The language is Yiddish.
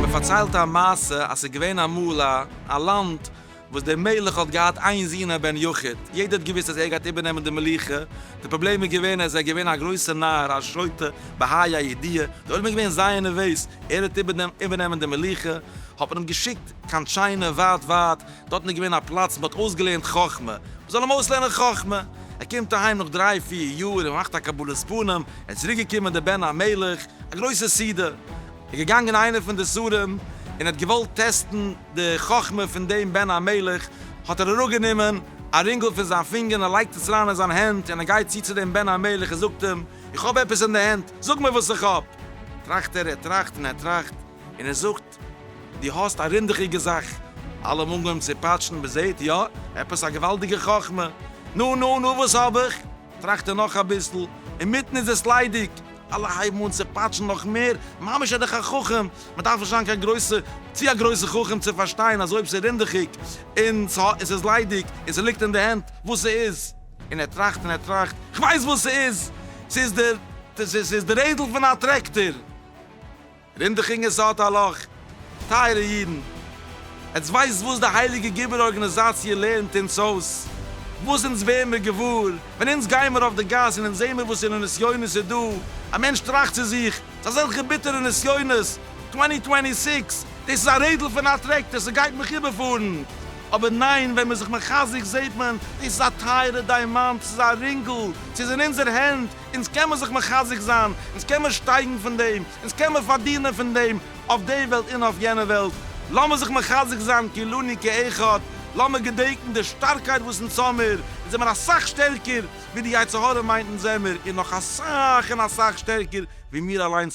מען פארציילט א מעשה אז ס'איז געווען אמאל א א לאנד וואס דער מלך האט געהאט איין זון א בן יחיד, יעדער האט געוויסט אז ער גייט איבערנעמען די מלוכה, די פראבלעם איז געווען אז ער איז געווען א גרויסער נאר, א שוטה, בהאי הידיעה, די עולם איז געווען זייער נערוועז, ער וועט איבערנעמען די מלוכה, האט מען אים געשיקט קיין טשיינע, ווייט ווייט, דארטן איז געווען א פלאץ מ'האט אויסגעלערנט חכמה, מ'זאל אים אויסלערנען חכמה, ער קומט אהיים נאך דריי פיר יאר, ער מאכט א קבלת פנים, ער איז צוריק געקומען דער בן המלך, א גרויסע סעודה, איז געגאנגען איינער פון די שרים און האט געוואלט טעסטן די חכמה פון דעם בן המלך, האט ער אראפגענומען א רינגל פון זיין פינגער און ער לייגט עס אריין אין זיין הענט און ער גייט צו צו דעם בן המלך און זאגט אים, איך האב עפעס אין די הענט, זאג מיר וואס איך האב. טראכט ער, ער טראכט און ער טראכט און ער זאגט. געזאגט. דו האסט א רינדעכיגע זאך. אלע האבן אנגעהויבן צו פאטשן, מען זעט, יא, עפעס א געוואלדיגע חכמה. נו, נו, נו, וואס האב איך? טראכט ער נאך אביסל, אינמיטן איז עס ליידיג. אלע הייבן אן צו פאטשן נאך מער, ממש ער דאך א חכם, מען דארף נישט זיין קיין גרויסע, צו א גרויסע חכם צו פארשטיין אז אויב ס'איז רינדעכיג, און ס'איז ליידיג, און ס'ליגט אין די הענט, וואס ס'איז. און ער טראכט און ער טראכט, כ'ווייס וואס ס'איז! ס'איז די, ס'איז די רעדל פון א טרעקטאר! רינדעכינג איז האט א לאך. טייערע אידן, עטס ווייסט וואס די הייליגע גיבור ארגאניזאציע לערנט אונז אויס? וואס אונז ווער מיר געוואר ווען אונז גיי מיר אויף די גאס און אונז זעהן מיר וואס פארא נסיונות איז דא? א מענטש טראכט צו זיך, צו אזעלכע ביטערע נסיונות, טווענטי טווענטי סיקס, דאס איז א רעדל פון א טרעקטער, ס'גייט מיך איבערפארן. אבער ניין, ווען מ'איז זיך מחזק זעהט מען, דאס איז א טייערע דיימאנט, ס'איז א רינגל, ס'איז אין אונזער הענט, אונז קען מען זיך מחזק זיין, אונז קען מען שטייגן פון דעם, אונז קען מען פארדינען פון דעם אויף די וועלט און אויף יענע וועלט, לאמיר זיך מחזק זיין כולנו כאחד, לאמיר געדענקן די שטארקייט וואס אונז האמיר, אונז זעמיר אסאך שטערקער ווי די יצר הרע מיינט אונז זעמיר און נאך אסאך און אסאך שטערקער ווי מיר אליינס.